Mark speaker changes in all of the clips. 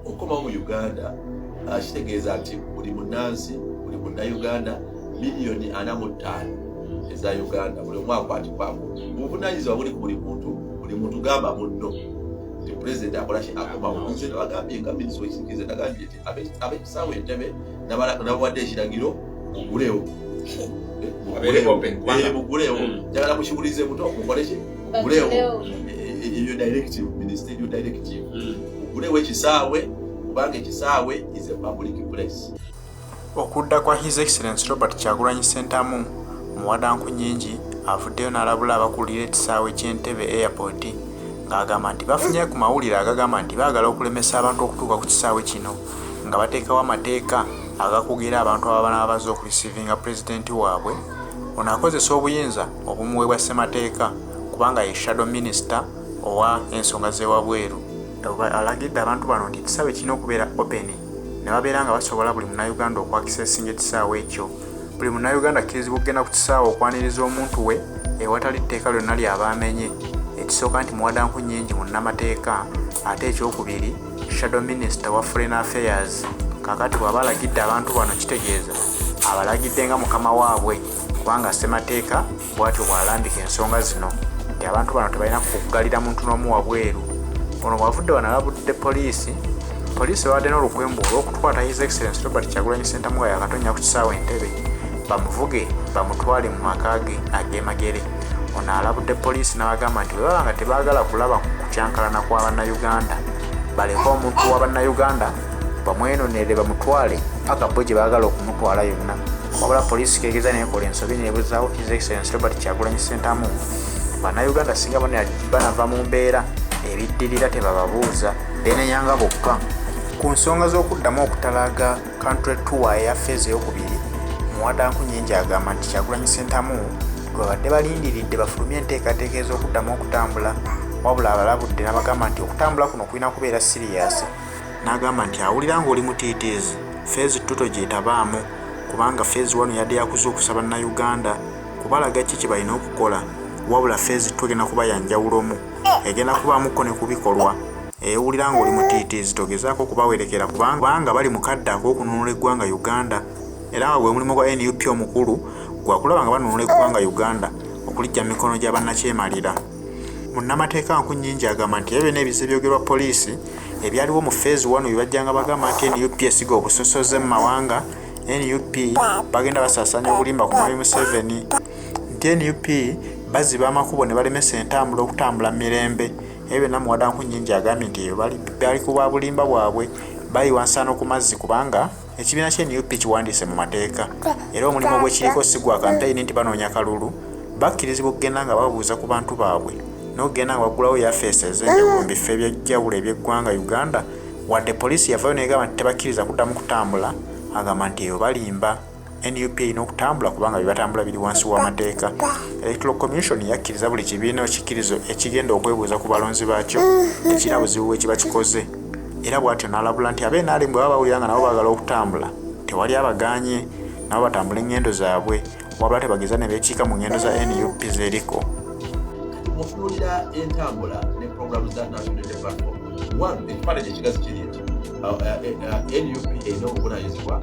Speaker 1: okukomawo mu uganda ah, kitegeeza nti buli munansi buli munnayuganda miliyoni ana mu ttaano eza uganda buli omu akwatikwako obuvunanyizibwa buli ku buli muntu buli muntu gamba munno nti pulezidenti akolaki akomawo nze nabagambye nga minisita wekisikirize nagambye nti abekisaawo entebe nabawadde ekiragiro mugulewo mugulewo njagala mukiwulize buto mukoleki ugulewo eyo directive ministry eyo directive hmm. ugulewo ekisaawe kubanga ekisaawe is a public place okudda
Speaker 2: kwa his excellence robert kyagulanyi sentamu muwadanku nyingi avuddeyo n'alabula abakulira ekisaawe ky'entebe airport ng'agamba nti bafunye ku mawulire agagamba nti baagala okulemesa abantu okutuuka ku kisaawe kino nga bateekawo amateeka agakugira abantu ababanaba bazze okulisivinga pulezidenti waabwe ono akozesa obuyinza obumuweebwa ssemateeka kubanga ye shadow minisita owa ensonga z'ewabweru. Alagidde abantu bano nti ekisaawe kirina okubeera openi ne babeera nga basobola buli munnayuganda okwakisesinga ekisaawe ekyo. Buli munnayuganda akkirizibwa okugenda ku kisaawe okwaniriza omuntu we ewatali tteeka lyonna ly'aba amenye. Ekisooka nti muwadanku nnyingi munnamateeka ate ekyokubiri shadow minisita wa foreign affairs. Kaakati bw'aba alagidde abantu bano kitegeeza abalagidde nga mukama waabwe. kubanga ssemateeka bwatyo bwalambika ensonga zino nti abantu bano tebalina kuggalira muntu n'omu wabweru ono bwavudde banalabudde poliisi poliisi babadde n'olukwembu olw'okukwata his excellence robert kyagulanyi sentamu nga yakatonya ku kisaawa entebe bamuvuge bamutwale mu maka ge ag'emagere ono alabudde poliisi n'abagamba nti bwe baba nga tebaagala kulaba ku kukyankalana kwa bannayuganda baleke omuntu wa bannayuganda bamwenonere bamutwale paka bo gye baagala okumutwala yonna wabula poliisi kegeza nekola ensobi nebuzawo his excellence robert kyagulanyi sentamu banauganda singa banava mu mbeera ebiddirira tebababuuza benenyanga bokka ku nsonga z'okuddamu okutalaga country tour eya feeza eyokubiri muwadanku nyingi agamba nti kyagulanyi sentamu gwebabadde balindiridde bafulumye enteekateeka ez'okuddamu okutambula wabula abalabudde nabagamba nti okutambula kuno kulina kubeera siriyasi n'agamba nti awulira ng'oli mutiitiizi feezi ttu togyetabaamu kubanga feezi wano yadde yakuza okusaba nnauganda kubalaga ki kye balina okukola wabula feezi ttu egenda kuba yanjawulomu egenda kubaamuko ne ku bikolwa ewulira ng'oli mutiitiizi togezaako okubawerekera kubanga bali mu kadde ak'okununula eggwanga uganda era nga gwe mulimu gwa nup omukulu gwakulaba nga banunula eggwanga uganda okulijja mu mikono gya bannakyemalira munnamateeka nkunyingi agamba nti ebyo n'ebiza ebyogerwa poliisi ebyaliwo mu feezi wano bibajjanga bagamba nti nup esiga obusosoze mu mawanga nup bagenda basaasaanya obulimba ku mwami museveni nti nup baziba amakubo ne balemesa entambula okutambula mu mirembe ebyo byonna muwada nkunyingi agambye nti ebyo bali ku bwa bulimba bwabwe bayiwa nsaano ku mazzi kubanga Ekibiina kya nup kiwandiise mu mateeka era omulimu ogwekiriko si gwa kampeyini nti banoonya kalulu, bakkirizibwa okugenda nga babuuza ku bantu baabwe n'okugenda nga baggulawo yafeesi ez'enjawulo mu bifo eby'enjawulo eby'eggwanga Uganda wadde poliisi yavaayo n'egamba nti tebakkiriza kuddamu kutambula agamba nti eyo balimba. nup erina okutambula kubanga bye batambula biri wansi w'amateeka electoral commission yakkiriza buli kibiina ekikkirizo ekigenda okwebuuza ku balonzi baakyo ekirina buzibu bwe kiba kikoze. era bw'atyo n'alabula nti aba NRM bwe baba bawulira nga nabo baagala okutambula tewali abagaanye nabo batambula engendo zaabwe wabula tebageza ne beekiika mu ngendo za nup zeriko
Speaker 1: mutunuulira entambula ne programu za national platform one ekifaananyi ekigazi kiri nti uh, uh, uh, nup erina obuvunanyizibwa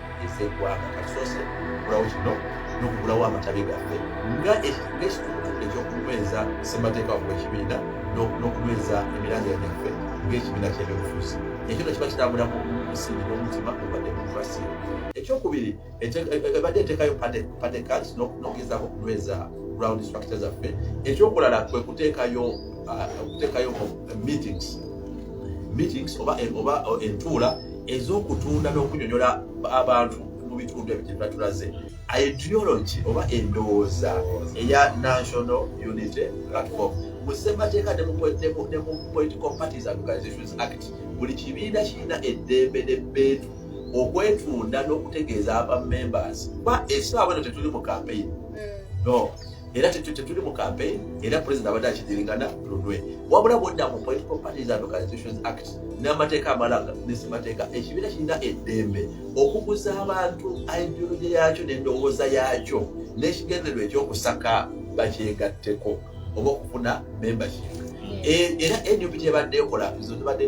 Speaker 1: ez'eggwanga kasoose okugulawo kino n'okugulawo amatabi gaffe nga ekituutu ekyokunyweza ssemateeka wakuba ekibiina n'okunyweza emiranga gyaffe ng'ekibiina ky'ebyobufuzi ekyo no kiba kitambula mu musingi n'omutima ogwa demokrasia ekyokubiri ebadde eteekayo pate cards n'ogezaako okunyweza ground structure zaffe ekyokulala kwe kuteekayo uh, meetings meetings oba entuula ez'okutunda n'okunyonyola abantu mu bitundu ebyo gyebatulaze ideology oba endowooza eya national unity platform mu ssemateeka ne mu political parties and organizations act buli kibiina kirina eddembe n'ebbeetu okwetunda n'okutegeeza aba members kuba esaawa eno tetuli mu kampeyini hmm. no era kyekyo kyetuli mu campaign era president abadde akidirigana lunwe wabula bwodda mu political parties and organizations act n'amateeka amalaga nesemateeka ekibiina kirina eddembe okuguza abantu ideology yaakyo n'endowooza yaakyo n'ekigendererwa ekyokusaka bakyegatteko oba okufuna membership era nup tebadde ekola zibadde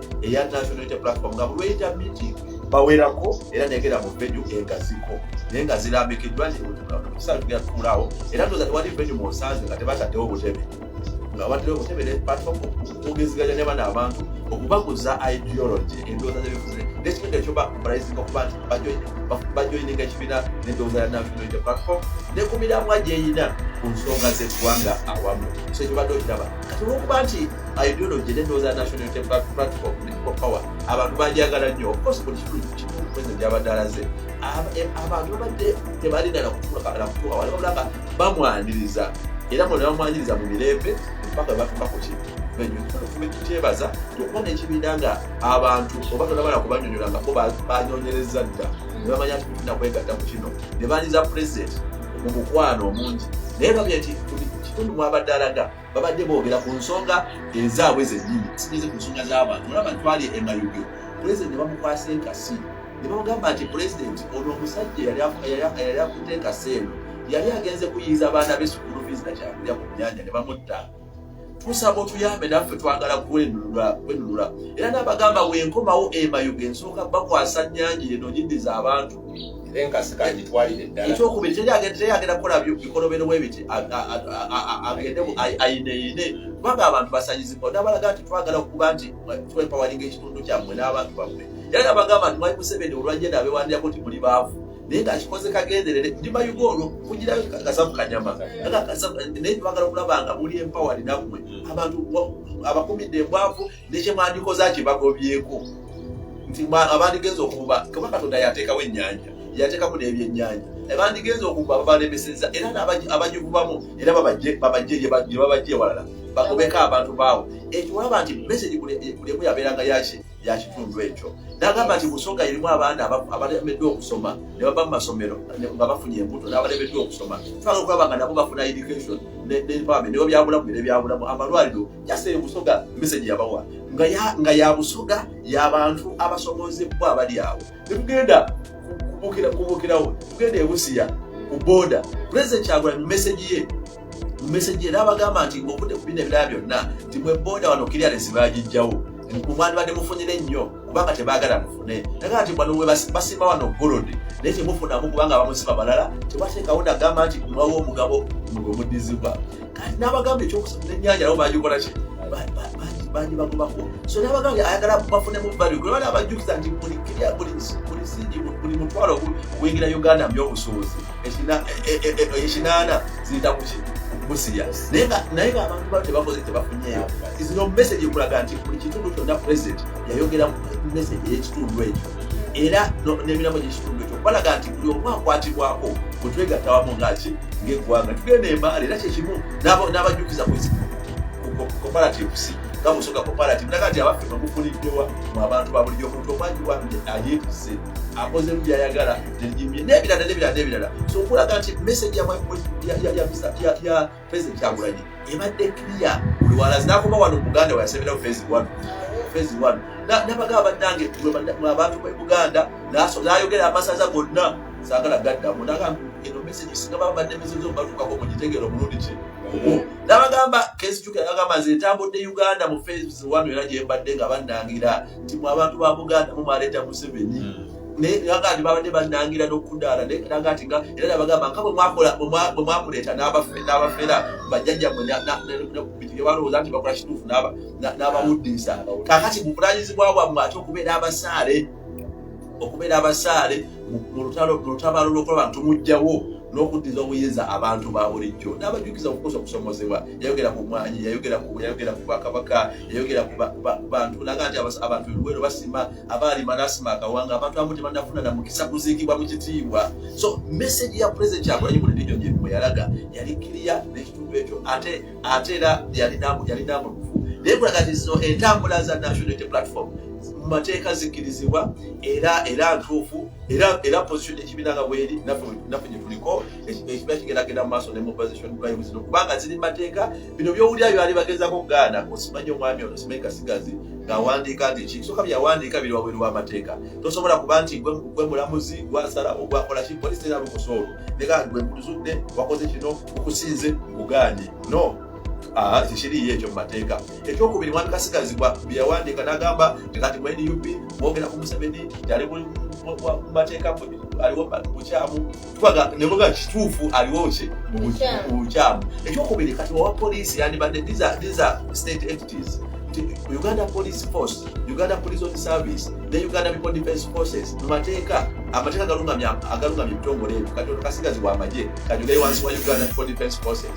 Speaker 1: eya national unity platform nga bulweyita meeting bawerako era negera mu venue engasiko naye nga zirambikiddwa ntisaatugerakulaawo era ndoza tewali venue munsaazi nga tebataddewo obutebe nga batera obutebe ne platform okugeziganya ne bana abantu okubaguza ideology endowooza zebifuze nekitundu ekyo baprising okuba nti bajoininga ekibiina nendowooza ya national unity platform ne ku miramwa gyeyina ku nsonga z'eggwanga awamu so ekyo badde okiraba kati olwokuba nti ideology nendowooza national unity platform people power abantu bajagala nnyo ofcourse buli kitundu kimu president gyabadde alaze e, abantu babadde tebalina nakutuuka wali wabula nga bamwaniriza era bona bamwaniriza mu mirembe mpaka batuuka ku kintu tukyebaza okuba nekibiina nga abantu oba tonabala kubanyonyola ngako banyonyereza dda nebamanya nti tulina kwegatta ku kino nebaniza president mu mukwano omungi naye babye nti Kitundu mwabadde alaga babadde boogera ku nsonga ezaabwe zennyini sigeze ku nsonga z'abantu olaba ntwali emayuge pulezidenti ne bamukwasa enkasi ne bamugamba nti pulezidenti ono omusajja yali akutte enkasi eno yali agenze kuyiiza abaana be sukulu fiizi na kyakulya ku nnyanja ne bamutta tusaba otuyambe naffe twagala kwenunula era n'abagamba wenkomawo emayuge nsooka bakwasa nnyanja eno nyindiza abantu
Speaker 3: ekyokubiri teyagenda
Speaker 1: kukola bikolobero bwebiti agende ayineyine kubanga abantu basanyizibwa nabalaga nti twagala okuba nti twepawalinga ekitundu kyammwe n'abantu bammwe era nabagamba nti mwali museveni olwajje nabewandirako nti muli baavu naye ngakikoze kagenderere ndimayuga olwo kugirayo kasavu kanyama naye twagala okulaba nga muli empawa linammwe abantu abakumidde embwavu nekyemwandikoze akibagobyeko nti abandigenza okuba kuba katonda yateekawo ennyanja yateekamu n'ebyennyanja abandigenza okuba babalemeseza era abagivubamu era babajje gyebabajje ewalala bagobeko abantu baawo ekiwaba nti mesegi kulemu yabeeranga yaki yakitundu ekyo nagamba nti busoga erimu abaana abalemeddwa okusoma ne baba mu masomero nga bafunye embuto n'abalemeddwa okusoma twaga okulaba nga nabo bafuna education ne empowerment nebyo byabulamu era ebyabulamu amalwaliro jase ebusoga message yabawa nga ya nga ya busoga ya bantu abasomoze kwa abali awo tugenda kubukira kubukira wo tugenda ebusiya ku boda president chagwa message ye message ye nabagamba nti ngokude kubine bya byonna timwe boda wano kiri alisibaji jawo kumwani bade mufunyire nnyo kubanga tebagala mufune naye ati bano basima wano golodi naye temufunamu kubanga bamusima balala tebateekawo nagamba nti mwawo omugabo mwe mudizibwa kati n'abagamba ekyokusatu nenyanja nabo bagikola ki bangi bagobako so n'abagamba ayagala bafunemu vali kulaba nabajjukiza nti buli singi buli mutwalo ogwingira uganda myobusuubuzi ekinaana ziyita kuki busiya naye nga abantu bano tebakoze tebafunyeyo izino message ekulaga nti buli kitundu kyonna president yayogera message eyekitundu ekyo era n'emirambo gyekitundu ekyo balaga nti buli omu akwatibwako bwetwegatta wamu ngaki ngaeggwanga tugenda embaala era kyekimu n'abajjukiza ku cooperatives nga musoga cooperative naga nti abaffe bamufuniddewa mu abantu babulijjo omuntu omwagi wange ayeetuse akozemu byayagala nebirala nebirala nebirala so okulaga nti message ya president kyagulanyi ebadde clear buli walazi nakoba wano muganda wayasebera fezi one fezi one nabagaba bannange abantu be buganda nayogera amasaza gonna sagala gaddamu nagamba eno message singa babadde message zobatukako mugitegera omulundi ki nabagamba kezijukiagamba nze ntambudde uganda mu fezi one era gyembadde nga bannangira nti mu abantu ba buganda mumaleeta museveni hmm. naye naga nti babadde banangira nokudaala naga nti nga era nabagamba nga bwemwakuleeta n'abafera bajjajja mwe balowooza nti bakola kituufu n'abawuddiisa kakati mubulanyizibwa bwammwe ate okubeera abasaale okubeera abasaale mu lutabaalo lwokuba bantu mujjawo n'okuddiza obuyinza abantu ba bulijjo n'abajjukiza okukosa okusomozebwa yayogera ku mwanyi yayogera ku bwakabaka yayogera ku bantu naga nti abantu ebiweero basima abaali marasima akawanga abantu amu tebanafuna na mukisa kuziikibwa mu kitiibwa so message ya president kyagulanyi mu lidiyo gye bwe yalaga yali kiriya n'ekitundu ekyo ate ate era yalina mulufu naye kulaga nti zino entambula za national unity platform mu mateeka zikkirizibwa era era ntuufu era era position ekibiina nga bweri naffe gye tuliko ekibiina kigeragenda mu maaso ne mobilization drives no kubanga ziri mateeka bino byowulira byali bagezako okugaana osimanyi omwami ono simanyi kasigazi ng'awandiika nti ki soka byawandiika biri wabweru w'amateeka tosobola kuba nti gwe mulamuzi gwasala ogwakola ki polisi era lukusa olwo nega gwe nkuzudde wakoze kino okusinze nkugaanye no ah, kikiriyo ekyo mu mateeka ekyokubiri mwami kasigazi byeyawandiika n'agamba ngati mu nup mwogera ku museveni yali mu mateeka aliwo bukyamu twaga ne muga kituufu aliwo ki mubukyamu ekyokubiri kati owa poliisi yandibadde these are, these are state entities uganda police force uganda police on service ne uganda people defense forces mumateeka amateeka agalungamya agalungamya ebitongole ebyo kati ono kasigazi wamagye kati ulayi wansi wa uganda people defense forces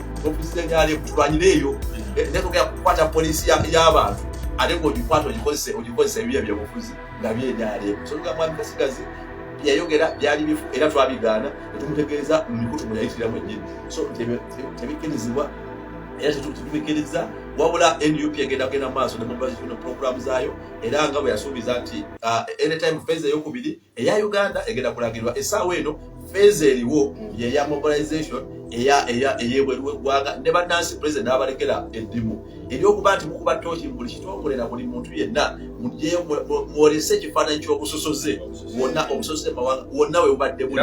Speaker 1: ofisi ya nyale tulwanyire eyo eh, netugenda kukwata polisi y'abantu ate ngaogikwata ogikozesa ogikozesa ebibya byobufuzi nga byenyale sotuga mwami kasigazi yayogera byali bifu era twabigaana netumutegeeza mu mikutu mwe yayitira mwennyini so tebikkirizibwa era tetubikiriza wabula nup egenda kugenda maaso nemubaziina puroguramu zaayo era nga bwe yasuubiza nti uh, anytime feza eyokubiri eya uganda egenda kulagirwa esaawa eno feeza eriwo mm. yeya mobilization eyebweru wegwanga ne banansi president nabalekera eddimu eryokuba nti mukuba tooki buli kitongole na buli muntu yenna mwolese ekifaananyi kyobusosoze wonna obusosoze mawanga wonna webubadde buli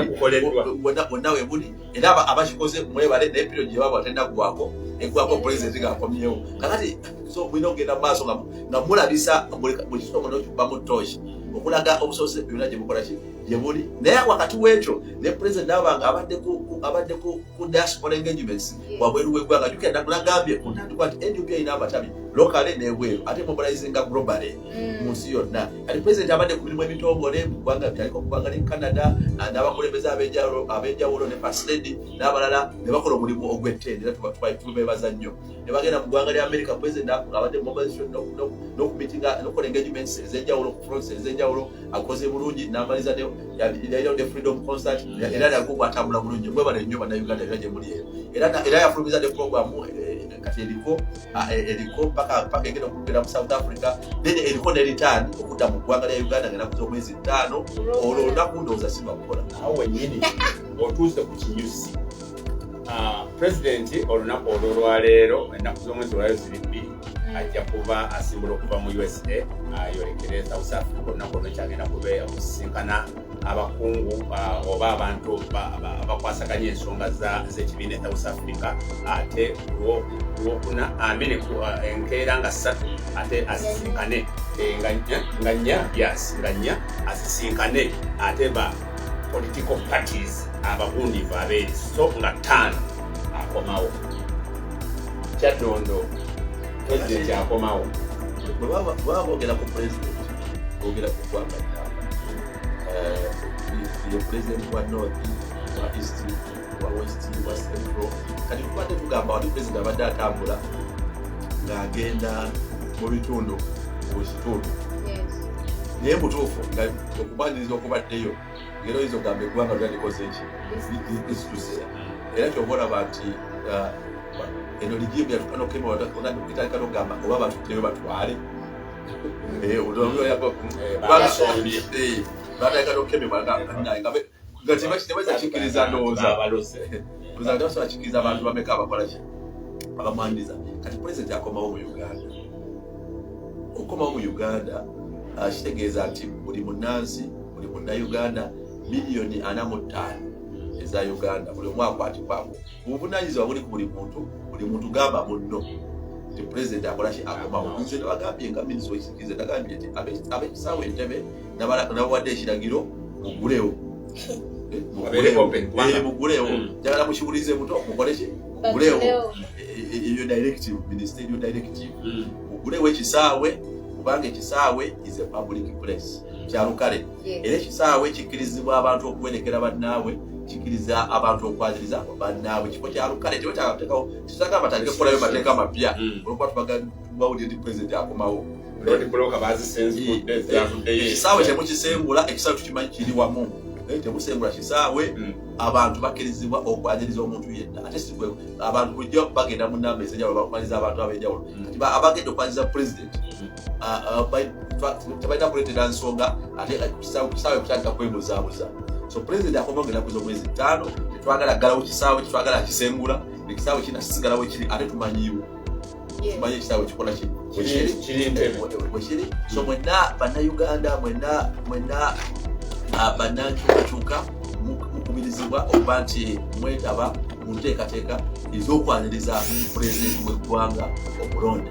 Speaker 1: wonna webuli era abakikoze mwebale naye period gyebaba tenda kugwako egwako pulezidenti ngaakomyewo kakati so mulina okugenda mu maaso nga mulabisa buli kisomo nokibamu toshi okulaga obusobozi byonna gyemukolaki gyebuli naye wakati wekyo ne pulezidenti nabanga abadde ku diaspora engagements wabweru wegwanga jukira nagambye ku ntandikwa nti nup erina amatabi lokale nebweru ate mobilizinga globale mm. mu nsi yonna kati pulezidenti abadde ku mirimu emitongole mu ggwanga bitaliko okubanga ne canada ah, n'abakulembeze ab'enjawulo ne pasiledi n'abalala ne bakola omulimu ogw'ettendo era tubebaza nnyo ne bagenda mu ggwanga lya amerika pulezidenti abadde nokukola engagements ez'enjawulo ku fronts ez'enjawulo akoze bulungi n'amaliza yalinawo ne freedom concert era nago bwatambula bulungi mwebale nnyo bannayuganda era gye muli eyo era yafulumiza ne programu eh, kati eriko ah, e, eriko paka paka egenda okugera mu south africa then eriko ne return okudda mu ggwanga lya uganda nga nakuza omwezi ttaano olwo olunaku ndowooza si lwakukola awo wenyini
Speaker 3: otuuse ku kinyusi ah, pulezidenti olunaku olwo lwaleero ennaku z'omwezi olwayo ziri bbiri hmm. ajja kuba asimbula okuva mu usa ayolekere ah, south africa olunaku olwo kyagenda kubeera okusisinkana abakungu uh, oba abantu abakwasaganya ensonga z'ekibiina ekya south africa ate lwokuna amene uh, enkeera nga ssatu ate asisinkane eh, nga nnya yes nga nnya asisinkane ate ba political parties abagundivu abeeri so nga ttaano akomawo kyaddondo president akomawo bwebabogera
Speaker 1: ku president twogera ku ggwanga ddamba ye pulezidenti wa north wa east wa west wa central kati tubadde tugamba wali pulezidenti abadde atambula ng'agenda mu bitundu mu kitundu naye mutuufu nga okubaniriza okubaddeyo ngera oyinza okugamba eggwanga lyalikoze ki lisituse era kyoba olaba nti uh, eno ligimu yatukanokema otandika okugamba oba batutteyo batwale Eh, akikiriza abantu bameka abakolaki abamwandiza kati pulezidenti akomawo mu uganda okukomawo mu uganda ah, kitegeeza nti buli munansi buli munnauganda miliyoni ana mu ttaano eza uganda buli omu akwatibwako obuvunanyizibwa buli ku buli muntu buli muntu gamba munno nti pulezidenti akolaki akomawo nze nabagambye nga minisita wekisikirize nagambye nti abekisaawo entebe nabawadde ekiragiro mugulewo eh, mugulewo eh, hmm. njagala mukiwulize muto mukoleki mugulewo eh, ebyo directive minisita ebyo directive hmm. mugulewo ekisaawe kubanga ekisaawe is a public place hmm. kyalukale era ekisaawe kikkirizibwa abantu okuwerekera bannaabwe kikiriza abantu okwaziriza bannaabwe kifo kya lukale tewekyatekawo kisaga batandike kukolayo mateeka mapya mm. olwokuba tubagawulire nti pulezidenti akomawo ekisaawe temukisengula ekisaawe tukimanyi kiri wamu Eh, temusengula kisaawe hmm. abantu bakkirizibwa okwanyiriza omuntu yenna ate sikwe abantu bujja bagenda mu namba ezenjawulo bakumaliza abantu abenjawulo hmm. abagenda okwanyiriza pulezidenti tebalina kuleetera nsonga ate kisaawe kutandika kwebuzaabuza so pulezidenti akoma ogenda kuza omwezi ttaano tetwagala ggalawo kisaawe kitwagala akisengula ekisaawe kina kisigalawo kiri ate tumanyiiwo tumanyi ekisaawe kikola kiri so mwenna bannayuganda mwenna mwenna ah, bannankyukakyuka mukubirizibwa okuba nti mwetaba mu nteekateeka ez'okwaniriza pulezidenti w'eggwanga omulonde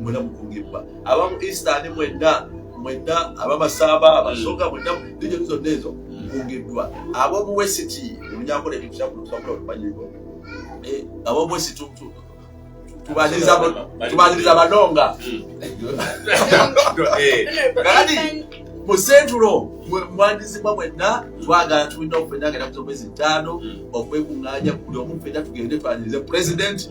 Speaker 1: mwena mukungibwa abamu eastern mwena mwena abamasaba abasoga mwena dijoni zonna ezo mukungiddwa abomu wesiti olunyakola ebintu kyakulutwakula olumanyibwa eh, abomu wesiti tubaniriza banonga kati mu sentulo mwandizibwa mwenna twagala tulina okufenagenda kuza omwezi ttaano okwekunganya buli omu fena tugende twanirize pulezidenti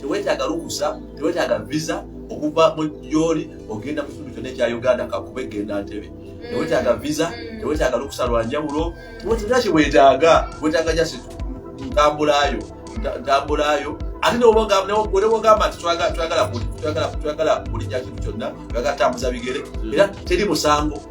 Speaker 1: tewetaaga lukusa tewetaaga visa okuva mu gyoli ogenda mu kitundu kyonna ekya uganda kakube genda ntebe mm. tewetaaga visa mm. tewetaaga lukusa lwa njawulo tewetaaga kyewetaaga wetaaga jasi ntambulayo ntambulayo ate newogamba nti twagala buli kintu kyonna twagala kutambuza bigere era teri musango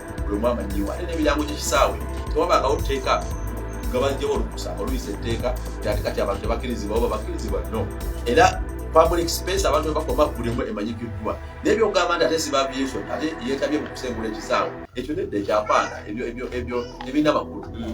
Speaker 1: buli omu amanyiwa ate n'ebirango gy'ekisaawe tewabangawo tteeka nga bajjawo olukusa oluyisa etteeka ati kati abantu tebakkirizibwa oba bakkirizibwa no era public space abantu webakoma kulimu emanyikiddwa naye byogamba nti ate sibabi yesu ate yetabye mu kusengula ekisaawe ekyo nedda ekyapaana ebyo ebyo ebyo ebirina amakulu mm.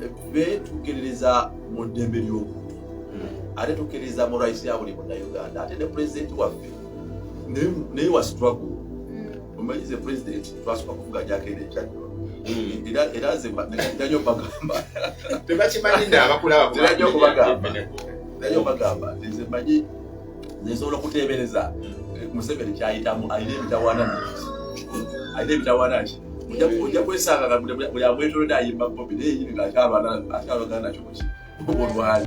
Speaker 1: ffe tukkiririza mu ddembe ly'obuntu hmm. ate tukkiririza mu rights ya buli munauganda ate ne pulezidenti waffe naye wa struggle hmm. omanyi ze pulezidenti twasooka kuvuga gyakenda ekyaddo hmm. era nze ndanyo bagamba tebakimanyi
Speaker 3: naabakulabaadanyo kubagamba danyo
Speaker 1: bagamba nze manyi nsobola okuteebereza museveni kyayitamu alina emitawaana alina emitawaana ki ojja kwesanga buli abwetolodde ayimba bobi naye yini ngaakyalwana akyalwagana nakyo kuki olwali